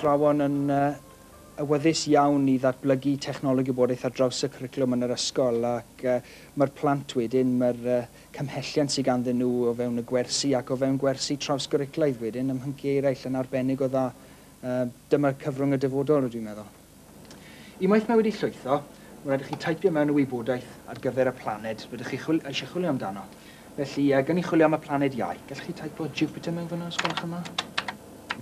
athrawon yn awyddus iawn i ddatblygu technoleg gwybodaeth ar draws y cwricwlwm yn yr ysgol ac mae'r plant wedyn, mae'r cymhelliant sydd ganddyn nhw o fewn y gwersi ac o fewn gwersi trawsgwricwlaidd wedyn ym mhynciau eraill yn arbennig o dda. Dyma cyfrwng y dyfodol, rydw i'n meddwl. Unwaith mae wedi llwytho, mae'n rhaid i chi taipio mewn y wybodaeth ar gyfer y planed rydych chi chwil, eisiau chwilio amdano. Felly, gan i chwilio am y planed Iau, gallwch chi taipo Jupiter mewn fyna, os gwelwch yn dda?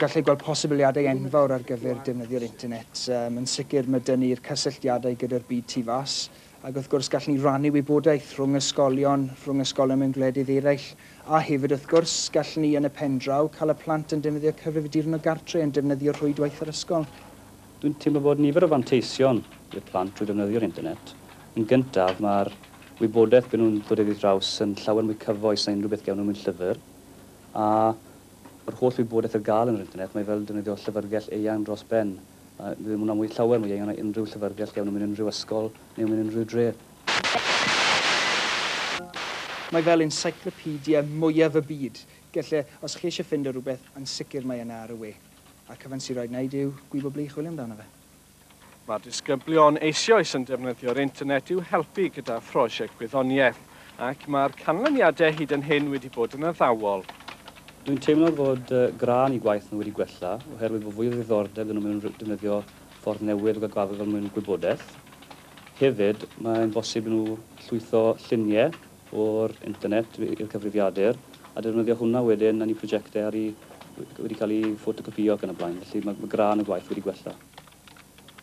Gallai gweld posibiliadau enfawr ar gyfer defnyddio'r internet. Um, yn sicr, mae dyn ni'r cysylltiadau gyda'r byd tu fas, ac wrth gwrs gallwn ni rannu wybodaeth rhwng ysgolion, rhwng ysgolion mewn gwledydd eraill, a hefyd, wrth gwrs, gallwn ni yn y pen draw cael y plant yn defnyddio cyfrifiaduron o gartre yn defnyddio rhwydwaith yr ysgol. Dwi'n teimlo bod nifer o fanteision i'r plant drwy ddefnyddio'r internet. Yn gyntaf, mae'r wybodaeth bydden nhw'n ddod iddi draws yn llawer mwy cyfoes na unrhyw beth gewn nhw mewn llyfr. A yr holl wybodaeth ar gael yn yr internet, mae fel defnyddio llyfrgell eang dros ben. Mae ddim hwnna mwy llawer mwy eang na unrhyw llyfrgell gewn nhw mewn unrhyw ysgol neu mewn unrhyw dre. Mae fel encyclopedia mwyaf y byd. Gelle, os chi eisiau ffindo rhywbeth, yn sicr mae yna ar y we. A'r cyfan sy'n rhaid wneud yw gwybod ble i chwilio amdano fe. Mae disgyblion eisoes yn defnyddio'r internet i'w helpu gyda phrosiect gwyddoniaeth, ac mae'r canlyniadau hyd yn hyn wedi bod yn addawol. Dwi'n teimlo fod gradd i gwaith nhw wedi gwella oherwydd bod fwy o ddiddordeb iddyn nhw mewn defnyddio ffordd newydd o gael gwared fel mwyn gwybodaeth. Hefyd, mae'n bosib i nhw llwytho lluniau o'r internet i'r cyfrifiadur a defnyddio hwnna wedyn yn eu prosiectau ar i wedi cael eu ffotocopïo ac yn y blaen, felly mae gwran y gwaith wedi gwella.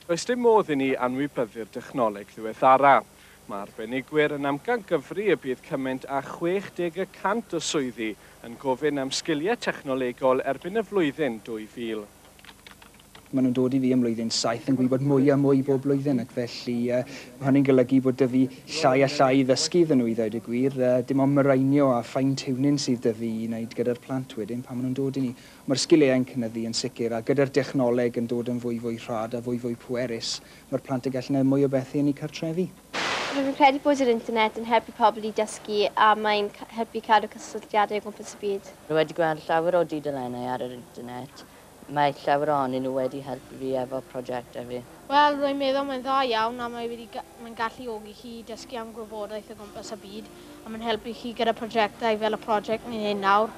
Does dim modd i ni anwybyddu'r dechnoleg ddiweddara. Mae arbenigwyr yn amcangyfri y bydd cymaint â 60 y cant o swyddi yn gofyn am sgiliau technolegol erbyn y flwyddyn 2000. Maen nhw'n dod i fi ym mlwyddyn saith yn gwybod mwy a mwy bob blwyddyn ac felly mae hynny'n golygu bod 'da fi llai a llai i ddysgu iddyn nhw i ddweud y gwir. Dim ond myreinio a fine tuning sydd 'da fi i wneud gyda'r plant wedyn pan maen nhw'n dod i ni. Ond mae'r sgiliau yn cynyddu yn sicr a gyda'r dechnoleg yn dod yn fwy fwy rhad a fwy fwy pwerus mae'r plant yn gallu gwneud mwy o bethu yn eu cartrefi. Rwyf yn credu bod yr internet yn helpu pobl i dysgu a mae'n helpu cadw cysylltiadau o gwmpas y byd. Rwy wedi gweld llawer o dudalennau ar yr internet Mae llawer ohonyn nhw wedi helpu fi efo prosiectau fi. Wel, rwy'n meddwl mae'n dda iawn a mae wedi ga-, mae'n galluogi chi i dysgu am gwybodaeth o gwmpas y byd a mae'n helpu chi gyda prosiectau fel y prosiect ni'n neud nawr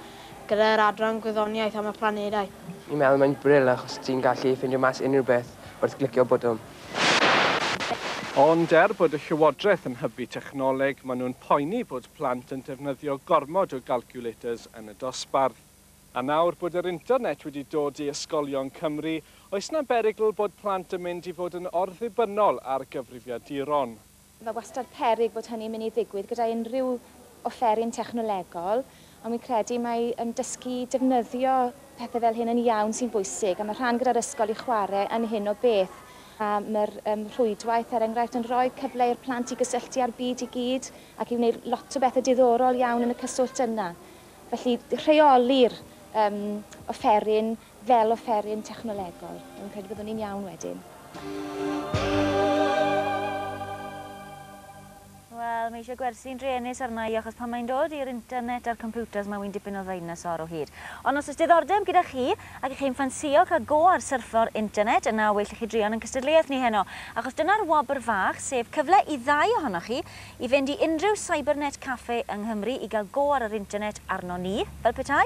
gyda'r Adran Gwyddoniaeth am y Planedau. Fi'n meddwl mae'n bril achos ti'n gallu ffindio mas unrhyw beth wrth glicio botwm. Ond er bod y Llywodraeth yn hybu technoleg, maen nhw'n poeni bod plant yn defnyddio gormod o galculators yn y dosbarth. A nawr bod yr internet wedi dod i ysgolion Cymru, oes 'na berygl bod plant yn mynd i fod yn orddibynnol ar gyfrifiaduron? Mae wastad peryg bod hynny'n mynd i ddigwydd gyda unrhyw offeryn technolegol, ond wi'n credu mai yym dysgu i defnyddio pethe fel hyn yn iawn sy'n bwysig, a ma' rhan gyda'r ysgol i chware yn hyn o beth. A ma'r yym rhwydwaith, er enghraifft, yn rhoi cyfle i'r plant i gysylltu â'r byd i gyd ac i wneud lot o bethe diddorol iawn yn y cyswllt yna. Felly, rheoli'r yym offeryn fel offeryn technolegol. Dwi'n credu byddwn ni'n iawn wedyn. Wel, mae eisiau gwersi'n druenus arna i achos pan mae'n dod i'r internet a'r computers mae wi'n dipyn o ddeinosor o hyd. Ond os oes diddordeb gyda chi ac y'ch chi'n ffansïo cael go ar syrffo'r internet yna well i chi druan yn cystadleuaeth ni heno achos dyna'r wobr fach sef cyfle i ddau ohonoch chi I fynd i unrhyw cybernet café yng Nghymru i gael go ar yr internet arnon ni, fel petai,